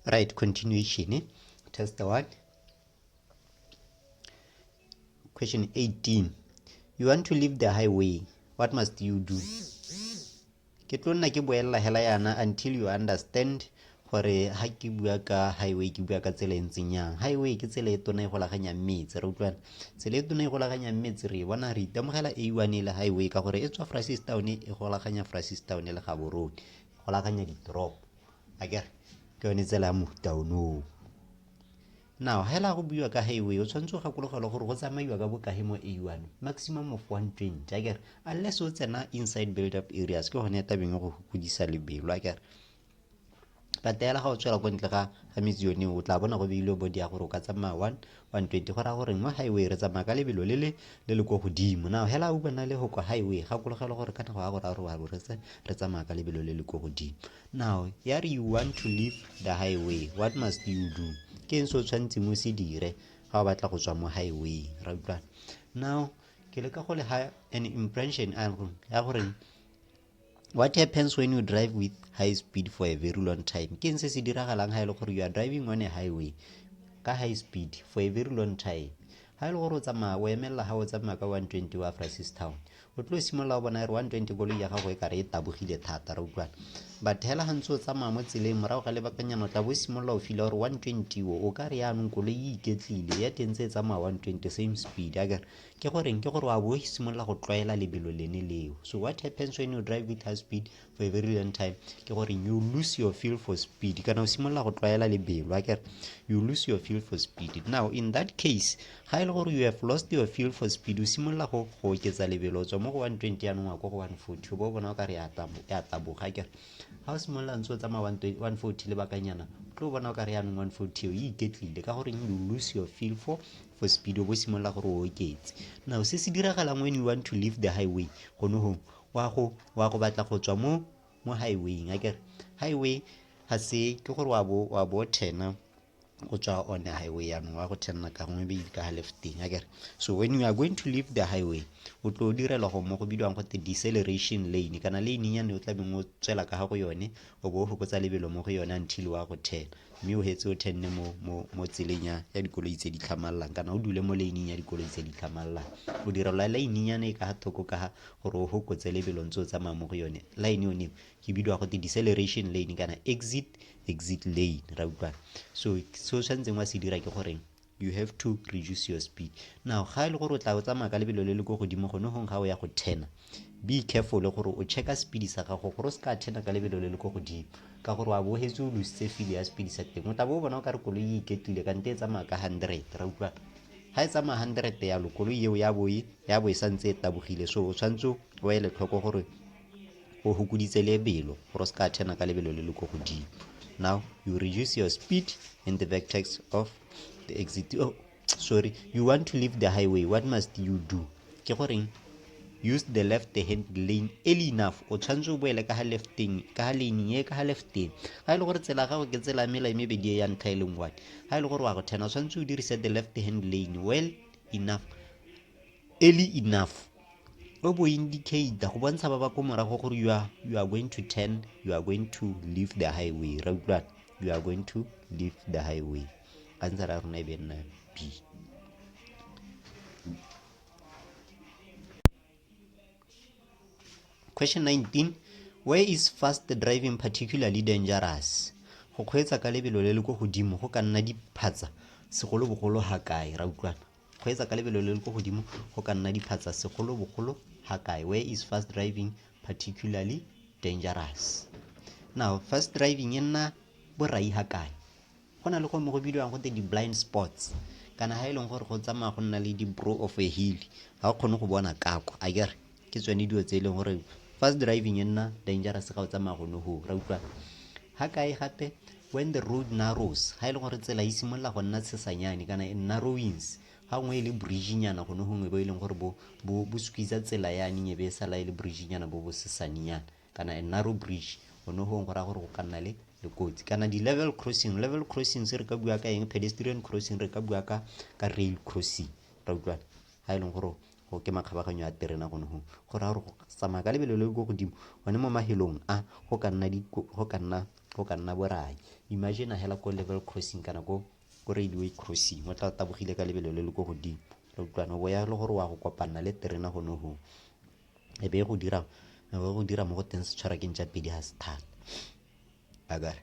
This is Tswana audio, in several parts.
right continuation eh? test the one question 18 you want to leave the highway what must you do ke tlo nna ke boelela hela yana until you understand gore ha ke bua ka highway ke bua ka tsela e ntseng yang highway ke tsela e tona e golaganyang metse re utlwana tsela e tona e golaganyang metse re bona re itemogela a one e le highway ka gore e tswa fracistown e golaganya fracistown le gaborone go lakanya ditoropo a ke re ke yone tsela ya mofuta onoo now hela go buiwa ka highway o tshwanetse o gakologelwa gore go tsamaiwa ka bokae mo a one maximum of one twenty a kere unless o tsena inside build up areas ke gone ya tabeng go godisa lebelo a kere patela ga o tswela ko ntle ga ga metsi yone o tla bona go beilwe bodi ya gore o ka tsamaya one 120 go raya gore mo highway re tsamaya ka lebelo le le le le ko godimo now hela o bona le go kwa highway gakologelo gore ka nako ya gore a re wa retse re tsamaya ka lebelo le le ko godimo now ya re you want to leave the highway what must you do ke eng se o tshwanetseng o se dire ga o batla go tswa mo highway ra utlwana now ke leka go le ha an impression ya goreng what happens when you drive with high speed for a very long time ke se se diragalang ga e le gore you are driving on a highway ka high speed for a very long time ga e le gore o tsamaya o emelela ga o tsamaya ka 120 wa francis town o tlo simolola o bona re 120 koloi ya gago e kare e tabogile thata re utlwana but hela ga ntse o tsamaya mo tseleng morago ga lebakanyana o tla bo simolola o fila gore 120 o o ka re yaanong koloi e iketlile ya teng tse e tsamaya 120 same speed a kere ke goreng ke gore wa bo simolola go tlwaela lebelo lene leo so what happens when you drive with high speed for a very long time ke gore you lose your feel for speed kana o simolola go tlwaela lebelo akere you lose your feel for speed now in that case ga e le gore you have lost your feel for speed o simolola go go oketsa lebelo o tswa mo go 120 yanong wa ko go 140 bo bona o ka re ya taboga akere ga o simolola ntse o tsamaya 140 lebakanyana tlo bona o ka re yanong 140 eo e iketlile ka goreng you lose your feel for for speed o bo simolola gore o oketse now se se diragalang when you want to leave the highway gone go wa go wa go batla go tswa mo mo highwayng a kere highway ga se ke gore wa bo wa bo thena go tswa on the highway yaanong wa go thenna ka gongwe be ka ga lefteng a kere so when you are going to leave the highway o tlo o direla go mo go bidiwang gote deceleration lane kana lane yane o tla beng o tswela ka ga go yone o bo o fokotsa lebelo mo go yone until wa go thena mme o hetse o tenne mo mo mo tseleng ya ya dikoloi tse di tlhamalelang kana o dule mo lane-ing ya dikoloi tse di tlhamalelang o direlwa line-nyana e ka ga thoko ka ga gore o gokotse lebelo ntse o tsamaya mo go yone line yone ke bidiwa go te deceleration lane kana exit exit lane ra utlwana so se o tshwanetseng wa se dira ke goreng you have to reduce your speed now ga e le gore o tla o tsamaya ka lebelo le le ko godimo gone gong ga o ya go thena be careful gore o checka speed sa gago gore o se ka thena ka lebelo le le ko godimo ka gore wa bohetse o lositse file ya speed sa teng o tla bo o bona o ka re koloi e iketlile kante e tsamaya ka hundred ra utlwa ga e tsamaya hundred yalo koloi eo ya boe ya bo e santse e tabogile so o tshwanetse o ele tlhoko gore o fokoditse lebelo gore o se ka turner ka lebelo le le ko godimo now you reduce your speed in the vertex of the exit oh, sorry you want to leave the highway what must you do ke goreng use the left hand lane early enough o tshwanetse o boele ka ga lefteng ka ga lane ye ka ga lefteng ga e le gore tsela gago ke tsela mela e mebedi e ya ntlha e leng one ga e le gore wa go thena o tshwanetse o dirise the left hand lane well enough early enough o bo indicate go bontsha ba ba ko morago gore you are, you are going to turn you are going to leave the highway ra utlwana you are going to leave the highway ka ntse ra rona e be nna b question 19 where is fast driving particularly dangerous go kgweetsa ka lebelo le le ko godimo go ka nna diphatsa segolobogolo ga kae ra utlwana Kgweetsa ka lebelo le le ko godimo go ka nna diphatsa segolobogolo ga kae. Where is fast driving particularly dangerous? Now, fast driving e nna borai ga kae? Go na le go mo go bidiwang go di-blind spots kana ga e leng gore go tsamaya go nna le di-brow of a hill ga o kgone go bona kako a kere ke tsone dilo tse e leng gore fast driving e nna dangerous ga o tsamaya go ne go ra utlwa ga kae gape when the road narrows ga e leng gore tsela e simolola go nna tshesanyane kana e narrowings ga nngwe e le bridgenyana gone gongwe bo e leng gore bo squeeza tsela yane nyebe e sala e le bridgenyana bo bo sesanyana kana a narrow bridge gone gongwe go raya gore go ka nna le le kotsi kana di-level crossing level crossing se re ka bua ka eng pedestrian crossing re ka bua ka ka rail crossing ra utlwana ga e leng gore go ke makgabaganyo a terena gone gongwe go raya gore go tsamaya ka lebelo le le ko godimo gone mo mahelong a go ka nna go ka nna go ka nna borai imagine hela ko level crossing kana ko ko railway crossing o tla tabogile ka lebelo le le ko godimo re utlwana bo ya le gore wa go kopanna le terena gone gongwe e be go dira e be go dira mo go teng setshwarakeng tsa pedi ga se thata akare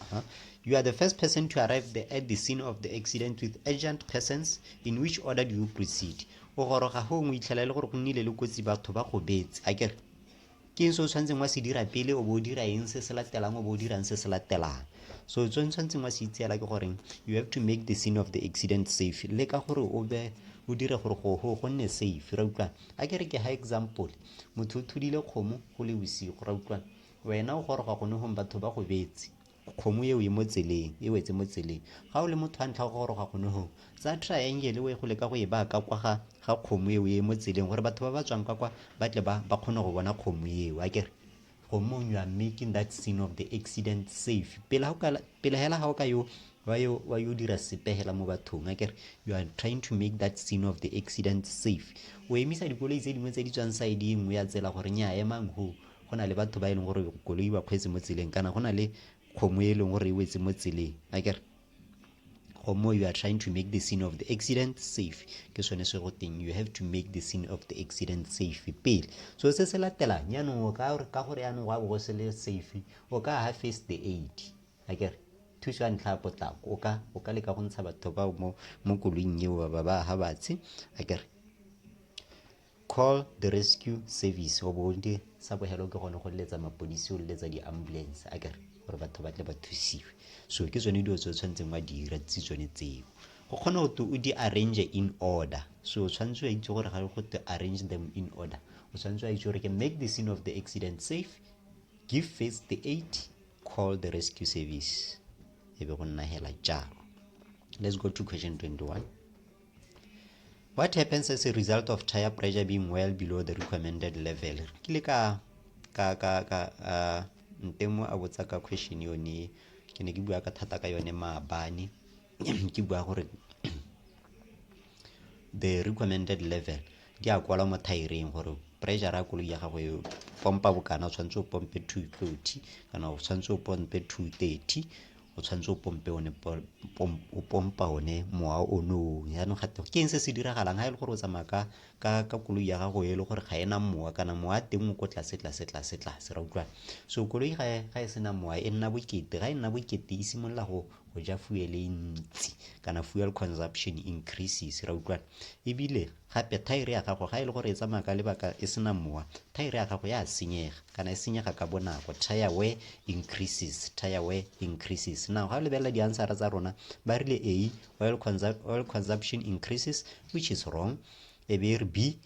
Uh -huh. You are the first person to arrive the, at the scene of the accident with urgent persons. In which order do you proceed? O goroga go ngwe itlhela le gore go nnile le kotsi batho ba go betse. A kere ke eng se o tshwanetseng wa se dira pele o bo o dira eng se se latelang o bo o dirang se se latelang so tse tshwanetseng wa se itseela ke goreng you have to make the scene of the accident safe le ka gore o be o dire gore go go go nne safe ra utlwana a ke re ke ha example motho o thudile kgomo go le bosigo ra utlwana Wena o goroga gone gong batho ba go betse. Kgomo eo e mo tseleng, e wetse mo tseleng. Ga o le motho wa ntlha go goroga gone gong, tsaya triangle o ye go leka go e baya ka kwa ga ga kgomo eo e mo tseleng gore batho ba ba tswang ka kwa ba tle ba ba kgone go bona kgomo eo a kere gomong you are making that scene of the accident safe pele hela ga o ka yo wa yo wa yo dira sepegela mo bathong a kere you are trying to make that scene of the accident safe o emisa dikoloi tse dingwe tse di tswang side e nngwe ya tsela gore nya emang ho go na le batho ba e leng gore koloi ba kgweetse mo tseleng kana go na le kgomo e leng gore e wetse mo tseleng a kere gomo you are trying to make the scene of the accident safe ke sone se go teng you have to make the scene of the accident safe pele so se se latelang yaanong o ka ka gore yaanong wa bo se le safe o ka ha face the aid a kere thuso ya ntlha ya potlako o ka o ka leka go ntsha batho bao mo mo koloing eo ba ba ha batshe a kere Call the rescue service wa bonke sa bohelo ke gone go letsa mapodisi o letsa di-ambulance a kere gore batho ba tle ba thusiwe so ke tsone dilo tse o tshwanetseng wa dira tse tsone tseo go kgona go te o di arrange in order so o tshwanetse wa itse gore ga go te arrange them in order o tshwanetse wa itse gore ke make the scene of the accident safe give first the aid call the rescue service e be go nna hela jalo let's go to question 21 What happens as a result of tire pressure being well below the recommended level? Re kile ka ka ka ka uh, ntemo a botsa ka question yone ke ne ke bua ka thata ka yone maabane ke bua gore the recommended level di a kwala mo thaereng gore pressure ya koloi ya gago e pompa bokana o tshwanetse o pompe 230 kana o tshwanetse o pompe 230 o tshwanetse o pompe one o pompa one mowa o nong jaanong gate ke eng se se diragalang ga e le gore o tsamaya ka ka ka koloi ya gago e le gore ga ena mowa kana mowa a teng o ko tlase tlase tlase tlase ra utlwana so koloi ga ga e sena mowa e nna bokete ga e nna bokete e simolola go go ja fuel e ntsi kana fuel consumption increases ra utlwana ebile Gape, thaere ya gago, ga e le gore e tsamaya ka lebaka e sena mowa, thaere ya gago ya senyega, kana e senyega ka bonako. Tire wear increases, tire wear increases. Now, ga o lebelela diansara tsa rona, ba rile A, oil, consu oil consumption increases, which is wrong. E be e re B,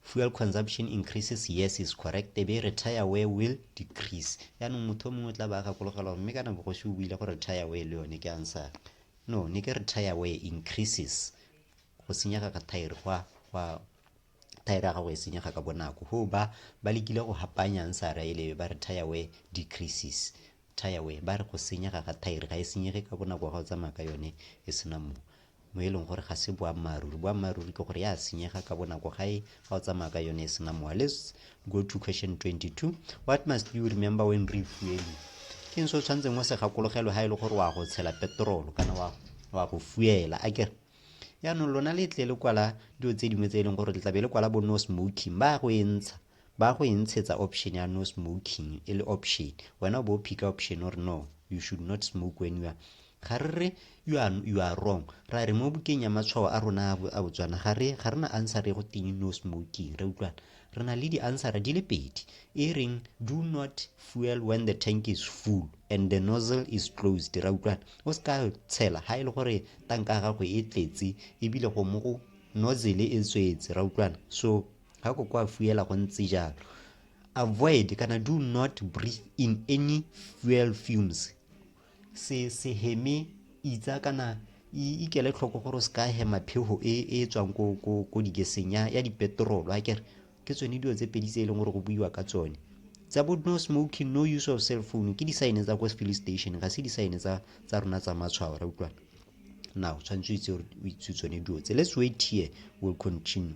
fuel consumption increases, yes is correct. E be e re tire wear will decrease. Yaanong motho o mongwe o tla ba a gakologelwa gore mme kana bogosi o buile gore tire wear le yone ke ansara. No, ne ke re tire wear increases. go senyega ga thaere gwa gwa thaere ya gago e senyega ka bonako go ba ba lekile go hapanyang sa raelebe ba re tire wear decreases tire wear ba re go senyega ga thaere ga e senyege ka bonako wa ga o tsamaya ka yone e sena mo mo e leng gore ga se boammaaruri boammaaruri ke gore ya senyega ka bonako ga e ga o tsamaya ka yone e sena mowa let's go to question 22 what must you remember when refueling ke eng se o tshwanetseng o se gakologelwe ga e le gore wa go tshela petrolo kana wa go fuela a kere yaanong lona le tle le kwala dilo tse dingwe tse e leng gore le tlabe le kwala bo no smoking ba go e ntsha ba go e ntshetsa option ya no smoking e le option wena o bo o phika option o re no you should not smoke when you are Ga re re you are, you are wrong. Ra re mo bukeng ya matshwao a rona a Botswana ga re ga rena answer e go teng no smoking. Re utlwana. Re na le di answer di le pedi. E reng do not fuel when the tank is full and the nozzle is closed. Ra utlwana. O se ka tshela ha e le gore tanka ya gago e tletse ebile go mo go nozzle e tswetse. Ra utlwana. So ga ko kwa fuela go ntse jalo. Avoid kana do not breathe in any fuel fumes se se heme itsa kana ikele tlhoko gore o se ka hema phego e e tswang ko ko ko digeseng ya ya dipetrolo a kere ke tsone dilo tse pedi tse e leng gore go buiwa ka tsone tsa bo no smoking no use of cell phone ke disaene tsa kwa filling station ga se disaene tsa tsa rona tsa matshwao ra utlwana now tshwanetse o itse o itse tsone dilo tse let's wait here will continue